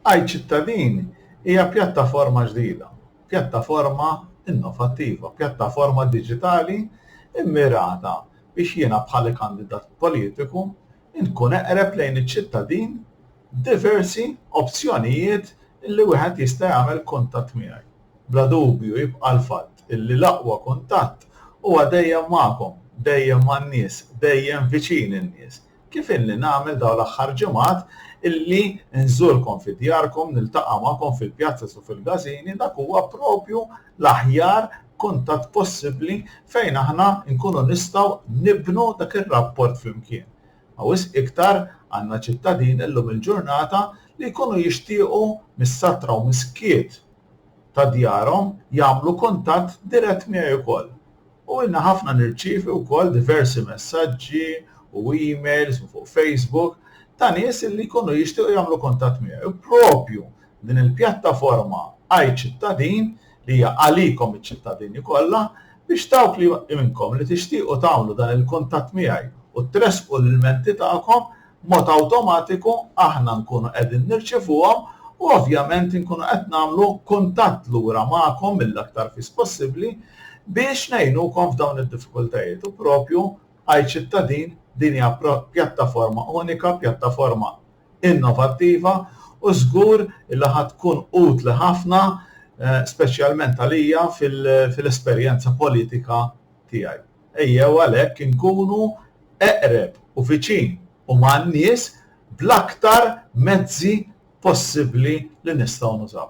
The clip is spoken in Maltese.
Għid Ċittadini hija pjattaforma ġdida, pjattaforma innovattiva, pjattaforma diġitali mmirata biex jiena bħala kandidat politiku nkun eqreb lejn iċ-ċittadin b'diversi opzjonijiet li wieħed jista' jagħmel kuntatt miegħi. Bla dubju jibqa' l-fatt li l-aqwa kuntatt huwa dejjem magħkom, dejjem man-nies, dejjem viċin in-nies. kif ilni nagħmel dawn l-aħħar ġimgħat illi nżurkom fi djarkom, niltaqa' magħkom fil-pjazzas u fil-gazini, dak huwa propju l-aħjar kuntatt possibbli fejn aħna nkunu nistgħu nibnu dak ir-rapport flimkien. Ma wisq iktar għandna ċittadini llum il-ġurnata li jkunu jixtiequ mis-satra u mis-skiet ta' djarhom jagħmlu kuntatt dirett miegħi wkoll. U ilna ħafna nirċievi wkoll diversi messaġġi u emails u fuq Facebook ta' nies li jkunu jixtiequ jagħmlu kuntatt miegħi u proprju din il-pjattaforma Ai Cittadin li hija għalikom iċ-ċittadini kollha biex dawk li minnkom li tixtiequ tagħmlu dan il-kuntatt miegħi u tressqu l-ilmenti tagħkom b'mod awtomatiku aħna nkunu qegħdin nirċivuhom u ovvjament inkunu qed nagħmlu kuntatt lura magħkom mill-aktar fis possibbli biex ngħinukom f'dawn id-diffikultajiet u propju iCittadin din hija pjattaforma unika, pjattaforma innovattiva u żgur li ħa tkun utli ħafna speċjalment għalija fil-esperjenza politika tiegħi. Ejjew għalhekk inkunu eqreb u viċin u man-nies bl-aktar mezzi possibbli li nistgħu nużaw.